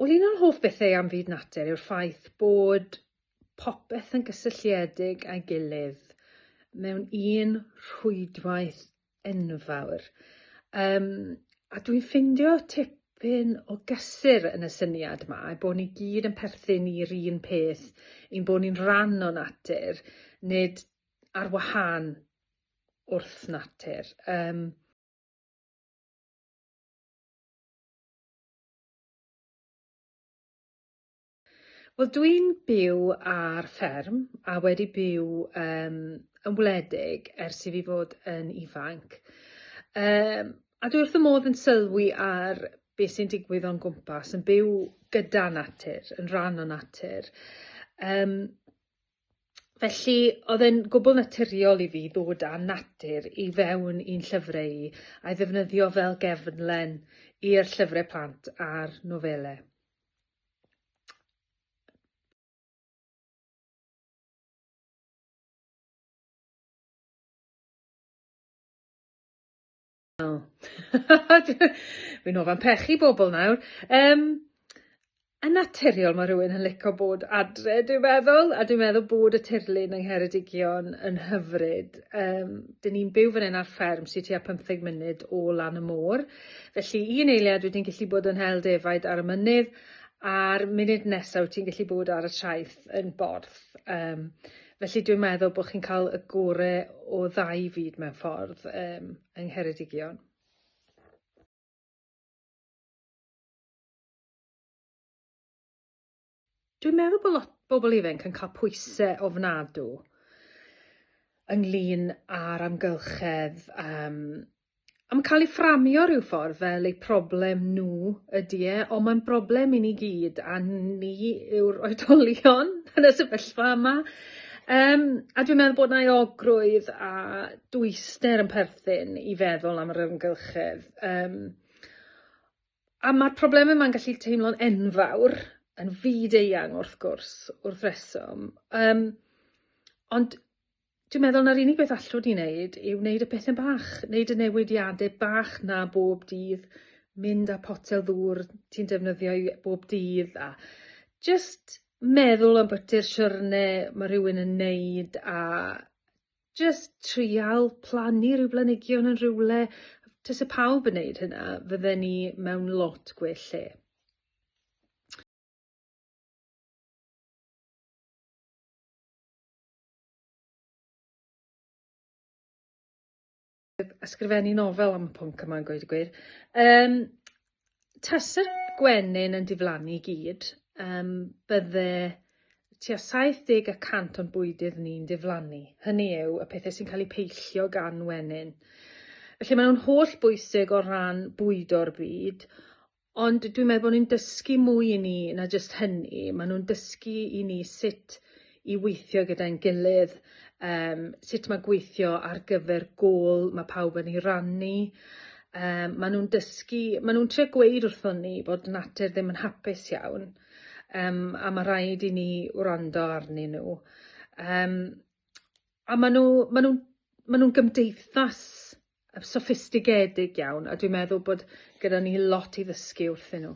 Wel, un o'r hoff bethau am fyd natur yw'r ffaith bod popeth yn gysylltiedig â'i gilydd mewn un rhwydwaith enfawr. Um, a dwi'n ffindio tip dipyn o gysur yn y syniad yma, a bod ni gyd yn perthyn i'r un peth, i'n bod ni'n rhan o natur, nid ar wahân wrth natur. Um, Wel dwi'n byw ar fferm a wedi byw um, yn wledig ers i fi fod yn ifanc. Um, a dwi wrth y modd yn sylwi ar beth sy'n digwydd o'n gwmpas, yn byw gyda natur, yn rhan o natur. Um, Felly, oedd e'n gwbl naturiol i fi ddod â natur i fewn i'n llyfrau i, a'i ddefnyddio fel gefnlen i'r llyfrau plant a'r nofelau. Oh. Fi'n ofan pechu bobl nawr. Um, yn naturiol mae rhywun yn licio bod adre, dwi'n meddwl, a dwi'n meddwl bod y tirlun yng Ngheredigion yn hyfryd. Um, dyn ni'n byw fan hyn ar fferm sy'n tua 15 munud o lan y môr. Felly, un eiliad wyt ti'n gallu bod yn hel defaid ar y mynydd, a'r munud nesaf wyt ti'n gallu bod ar y traeth yn borth. Um, felly dwi'n meddwl bod chi'n cael y gore o ddau fyd mewn ffordd um, yng Ngheredigion. Dwi'n meddwl bod lot bobl ifanc yn cael pwysau ofnadw ynglyn â'r amgylchedd, um, am cael ei fframio rhyw ffordd fel eu problem nhw ydy e, ond mae'n broblem i ni gyd a ni yw'r oedolion yn y sefyllfa yma. Um, a dwi'n meddwl bod na'i ogrwydd a dwyster yn perthyn i feddwl am yr ymgylchedd. Um, A mae'r problemau yma'n gallu teimlo'n enfawr, yn fyd-eang wrth gwrs, wrth reswm. Um, ond dwi'n meddwl na'r unig beth allwn ni wneud yw wneud y pethau bach, wneud y newidiadau bach na bob dydd, mynd â potel ddŵr ti'n defnyddio bob dydd a just meddwl am bwti'r siwrne mae rhywun yn neud a jyst trial plannu rhyw blanhigion yn rhywle, tase pawb yn neud hynna, fydden ni mewn lot gwell lle. ysgrifennu nofel am y pwnc yma'n gweud y gwir. Um, tas y gwenyn yn diflannu i gyd, um, bydde tua 70 y cant o'n bwydydd ni'n diflannu. Hynny yw y pethau sy'n cael eu peillio gan wenyn. Felly maen nhw'n holl bwysig o ran bwydo'r byd, Ond dwi'n meddwl bod nhw'n dysgu mwy i ni na jyst hynny. Maen nhw'n dysgu i ni sut i weithio gyda'n gilydd, um, sut mae gweithio ar gyfer gol mae pawb yn ei rannu, Um, maen nhw'n dysgu, maen nhw'n trio gweud wrthon ni bod natur ddim yn hapus iawn, um, a mae rhaid i ni wrando arnyn nhw. Um, a maen nhw, maen nhw'n maen nhw'n gymdeithas soffistigedig iawn a dwi'n meddwl bod gyda ni lot i ddysgu wrthyn nhw.